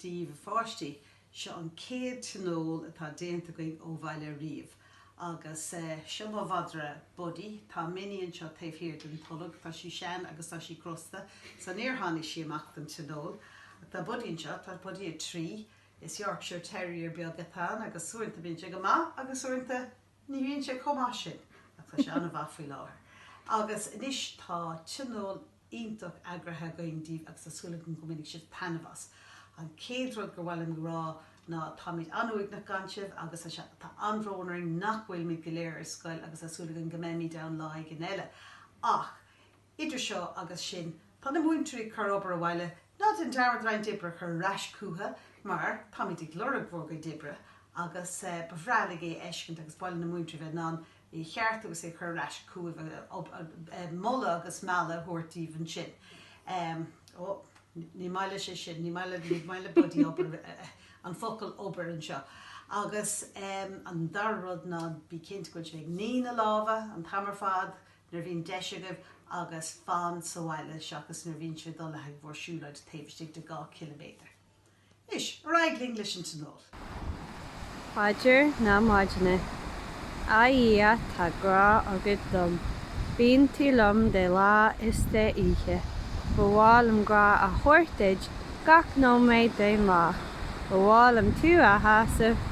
Daoibh, a pháistí, seo an chéad tionól atá déanta againn ó bhaile riamh. Agus seo mo mhadra, Buddy. Tá Minnie anseo taobh thiar den tolg. Tá sí sean agus tá sí crosta, so níor tháinig sí amach don tionól. Tá Buddy anseo, tá Buddy a 3. Is Yorkshire Terrier beag atá ann agus uaireanta bíonn sé go maith agus uaireanta ní bhíonn sé chomh maith sin ach tá sé an-mhaith faoi láthair agus anois tá tionól iontach eagraithe againn daoibh agus tá súil agam go mbainfidh sibh taitneamh as. An chéad rud gur mhaith liom a rá ná táimid an-uaigneach gan sibh agus tá sé, tá an-bhrón orainn nach bhfuilimid go léir ar scoil agus tá súil againn go mbeimid ann lá éigin eile ach Idir seo agus sin, tá na múinteoirí ag cur obair abhaile, ná déan dearmad roinnt oibre a chur ar ais chucu, mar táimid ag lorg bhur gcuid oibre, agus ba bhreá linn é a fheiscint agus ba mhaith leis na múinteoirí a bheith in ann é a cheartú agus é a chur ar ais chugaibh, moladh agus mealladh a thabhairt daoibh ansin. Ó, ní maith leis é sin, ní maith le, ní maith le Buddy obair, an focal obair anseo. Agus an dara rud ná, bí cinnte go bhfuil sibh ag ní na lámha an t-am ar fad, Nuair a bhíonn deis agaibh agus fan sa bhaile seachas nuair a bhíonn sibh ag dul le haghaidh bhur siúlóide taobh istigh de dhá chiliméadar. Anois, ar aghaidh linn leis an tionól! Paidir na Maidine. A Dhia, tá grá agat dom. Bíonn tú liom de lá is de oíche. Ba mhaith liom grá a thabhairt duit gach nóiméad den lá. Ba mhaith liom tú a shásamh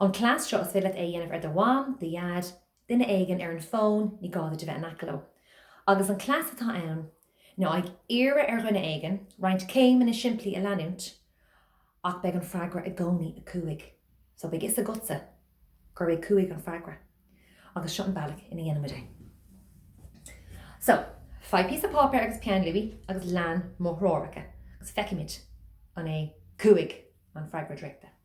An cleas seo, is féidir leat é a dhéanamh ar do mham, do dhaid, duine éigin ar an bhfón, ní gá duit a bheith in aice leo. Agus an cleas atá ann ná ag iarraidh ar dhuine éigin roinnt céimeanna simplí a leanúint ach beidh an freagra i gcónaí a 5 so beidh 'fhios agatsa gurb é 5 an freagra agus seo an bealach ina dhéanann muid é. So, faigh píosa páipéir agus peann luaí agus lean mo threoracha agus feicfimid an é 5 an freagra draíochta.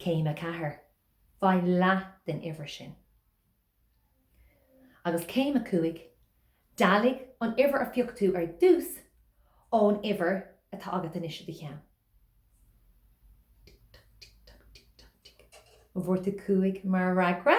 Céim a 4, Faigh leath den uimhir sin. Agus céim a 5, Dealaigh an uimhir a phioc tú ar dtús ón uimhir atá agat anois i do cheann. Tic toc, tic toc, tic toc, tic. An bhfuair tú 5 mar fhreagra?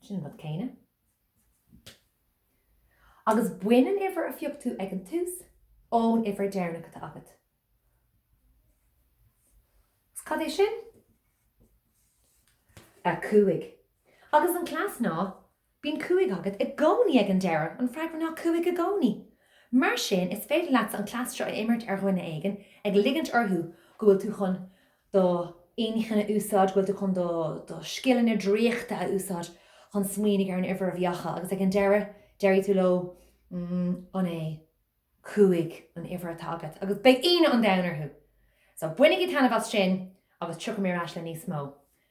Sin an rud céanna. Agus bain an uimhir a phioc tú ag an tús ón uimhir deireanach atá agat. Agus cad é sin? A 5. Agus an cleas ná, bíonn 5 agat i gcónaí ag an deireadh, an freagra ná 5 i gcónaí. Mar sin, is féidir leatsa an cleas seo a imirt ar dhuine éigin, ag ligint orthu go bhfuil tú chun do inchinn a úsáid, go bhfuil tú chun do scileanna draíochta a úsáid chun smaoinigh ar an uimhir a bhí acu agus ag an deireadh déarfaidh tú leo an é cúig an uimhir atá agat agus beidh ionadh an domhain orthu! So bainigí taitneamh as sin agus tiocfaidh mé ar ais le níos mó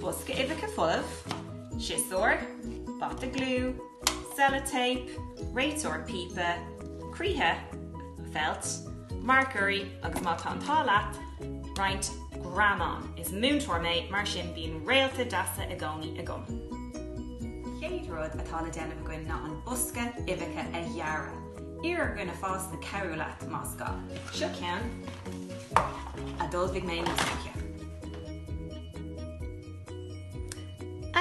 Bosca uibheacha folamh, siosúr, bata gliú, sellotape, réiteoir píopa, croíthe, feilt, marcóirí agus má tá an t-ádh leat, roinnt greamán. Is múinteoir mé, mar sin bíonn réalta deasa i gcónaí agam! Chéad rud atá le déanamh againn ná an bosca uibheacha a ghearradh. Iarr ar dhuine fásta cabhrú leat, más gá. Seo ceann a d'ullmhaigh mé níos luaithe.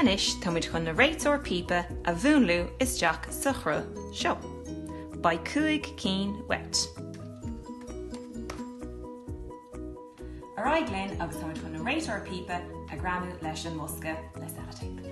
Anois tá muid chun na réiteoir píopa a mhúnlú isteach sa chruth seo. Beidh cúig cinn uait. Ar aghaidh linn agus táimid chun na réiteoir píopa a ghreamú leis an mbosca le sellotape.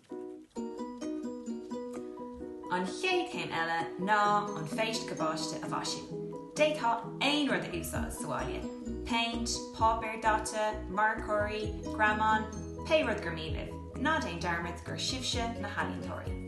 An chéad chéim eile ná an phéist cabáiste a mhaisiú. D'fhéadfá aon rud a úsáid sa bhaile, péint, páipéar daite, marcóirí, greamáin, pé rud gur mian libh, ná déan dearmad gur sibhse na healaíontóirí!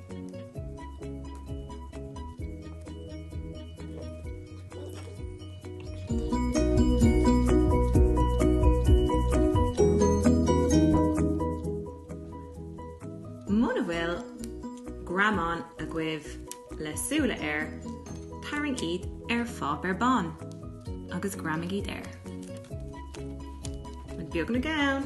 Muna bhfuil greamán agaibh le súile air, tarraing iad ar pháipéar bán agus greamaigh iad air. Rud beag na gceann.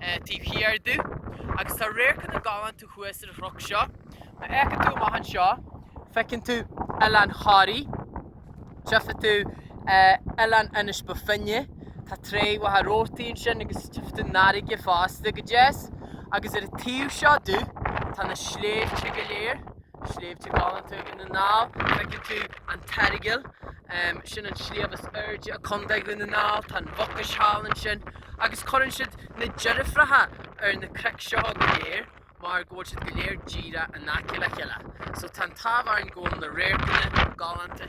taobh thiar domh, agus tá radharcanna galánta thuas ar an chnoc seo. Má fhéacann tú amach anseo, feiceann tú Oileán Thoraí, tchífidh tú Oileán Inis Bó Finne, tá tráigh Mhachaire Rabhartaigh ansin, agus tchífidh tú an fharraige fosta go deas, agus ar an taobh seo domh tá na sléibhte go léir. Sléibhte galánta Dhún na nGall. Feiceann tú an tEaragal, sin an sliabh is airde i Co. Dhún na nGall. Tá an Mhucais thall ansin. Agus cuireann siad na deirfiúracha ar na cnoic seo go léir mar go bhfuil siad go léir díreach in aice le chéile. So tá an t-ádh orainn go bhfuil na radharcanna galánta.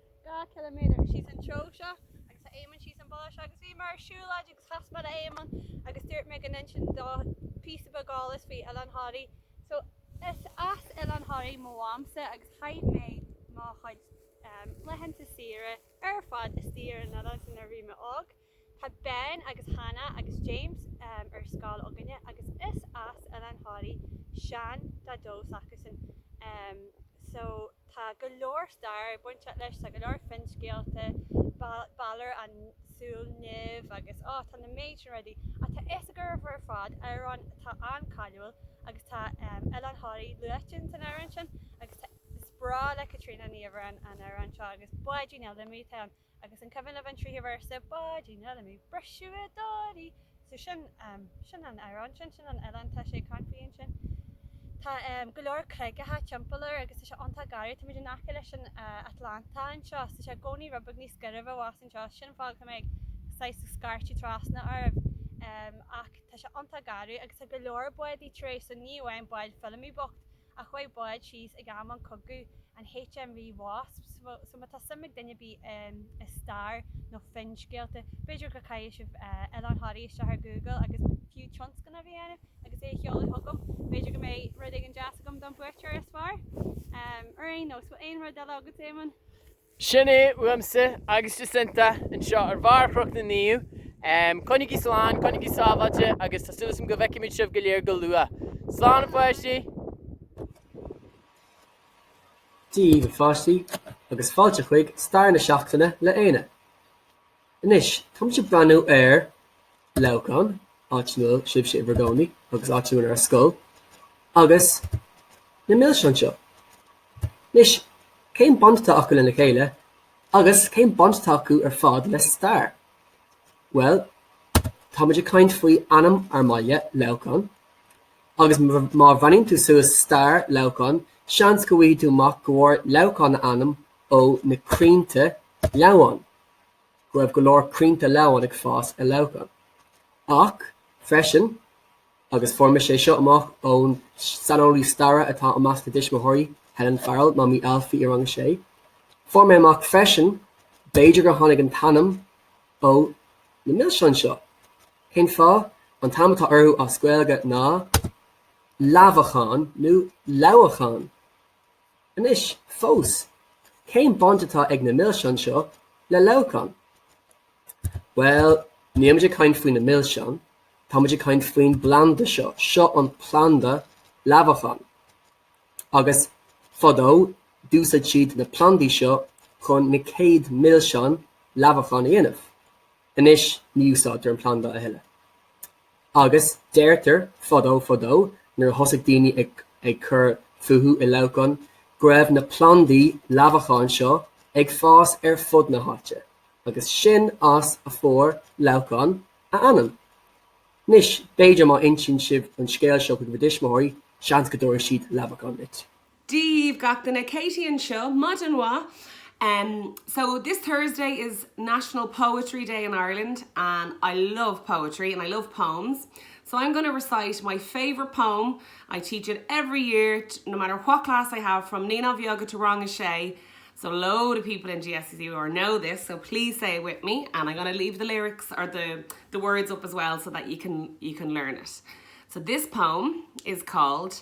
Dhá chiliméadar síos an treo seo agus tá Éamonn síos an bealach seo agus bhíomar ar siúlóid agus chas mé ar Éamonn agus dúirt mé go n-inseoinn dó píosa beag eolas faoi Oileán Thoraí so is as Oileán Thoraí mo mhamsa agus chaith muid mo chuid laethanta saoire ar fad istigh ar an oileán sin nuair a bhí mé óg. Tá Ben agus Hannah agus James ar scoil againne agus is as Oileán Thoraí sean-Daideo s'acusan so tá go leor stair ag baint leis, tá go leor finscéalta, Balor na Súile Nimhe agus oh tá na méid sin rudaí ach tá fhios agaibh ar fad amhrán atá an-cáiliúil agus tá Oileán Thoraí luaite ins an amhrán sin agus tá, is breá le Caitríona Ní Uibhir an amhrán seo agus Báidín Fheilimí d'imigh go. Agus an cuimhin libh an tríú véarsa? Báidín Fheilimí briseadh i dToraigh! So sin, em, sin an amhrán sin, sin an oileán tá sé ag caint faoi ansin. Tá, em, go leor creagacha timpeall air agus tá sé iontach garbh, tá muid in aice leis an, eh, Atlantach anseo, so tá sé i gcónaí rud beag níos gairbhe abhus anseo, so sin an fáth go bhfuil mé ag saghas ag scairtigh trasna oraibh, em, ach tá sé iontach garbh agus tá go leor báid i ndiaidh, so ní amháin bád Fheilimí bocht, Ach chuaigh bád síos in am an chogaidh, an HMV Wasp, so má tá suim ag duine ar bith i stair nó finscéalta, b'fhéidir go gcaithfidh sibh Oileán Thoraí isteach ar Google agus, fiú tionscnamh a dhéanamh agus é a sheoladh chugam, b'fhéidir go mbeidh rud éigin deas agam don bhuaiteoir is fearr. Ar aon nós, bhfuil aon rud eile agat, Éamonn? Sin é uaimse agus Jacinta anseo ar bharr Chnoc na Naomh. Coinnigí slán, coinnigí sábháilte agus tá súil asam go bhfeicfimid sibh go léir go luath. Slán a pháistí! Dia dhaoibh a pháistí agus fáilte chuig Stair na Seachtaine le Éanna. Anois, táimid ag breathnú ar Leamhcán, áit ina bhfuil sibhse i bhur gcónaí agus áit ina bhfuil ár scoil, agus na milseáin seo. Anois, cén baint atá acu lena chéile? Agus cén baint atá acu ar fad le stair? Bhuel, táimid ag caint faoi ainm ár mbaile, Leamhcán, agus má bhreathnaíonn tú suas stair Leamhcáin, seans go bhfaighidh tú amach go bhfuair Leamhcán a ainm ó na crainnte leamháin. go raibh go leor crainnte leamháin ag fás i Leamhcán, ach freisin, agus fuair mise é seo amach ón saineolaí staire atá i measc na dtuismitheoirí, Helen Farrell, Mamaí Ailfí i rang a sé, fuair mé amach freisin, b'fhéidir gur tháinig an t-ainm ó na milseáin seo. Cén fáth? An t-ainm atá orthu as Gaeilge ná leamhacháin nó leamhacháin. Anois, fós, cén baint atá ag na milseáin seo le Leamhcán? Bhuel, nílimid ag caint faoi na milseáin, táimid ag caint faoin bplanda seo. Seo an planda leamhacháin. Agus, fadó, d'úsaid siad na plandaí seo chun na chéad milseáin leamhacháin a dhéanamh. Anois, ní úsáidtear an planda a thuilleadh. Agus deirtear, fadó fadó, nuair a thosaigh daoine ag ag cur fúthu i Leamhcán, go raibh na plandaí leamhacháin seo ag fás ar fud na háite, agus sin as a fuair Leamhcán a ainm. Anois, b'fhéidir má insíonn sibh an scéal seo chuig bhur dtuismitheoirí, seans go dtabharfaidh siad leamhachán duit. Dia dhaoibh gach duine, Katie anseo, maidin mhaith em so this Thursday is National Poetry Day in Ireland and I love poetry and I love poems so I'm gonna recite my favourite poem, I teach it every year no matter what class I have from Naíonáin Bheaga to Rang 6 so load of people in GSCC or know this so please say it with me and I'm gonna leave the lyrics or the the words up as well so that you can you can learn it so this poem is called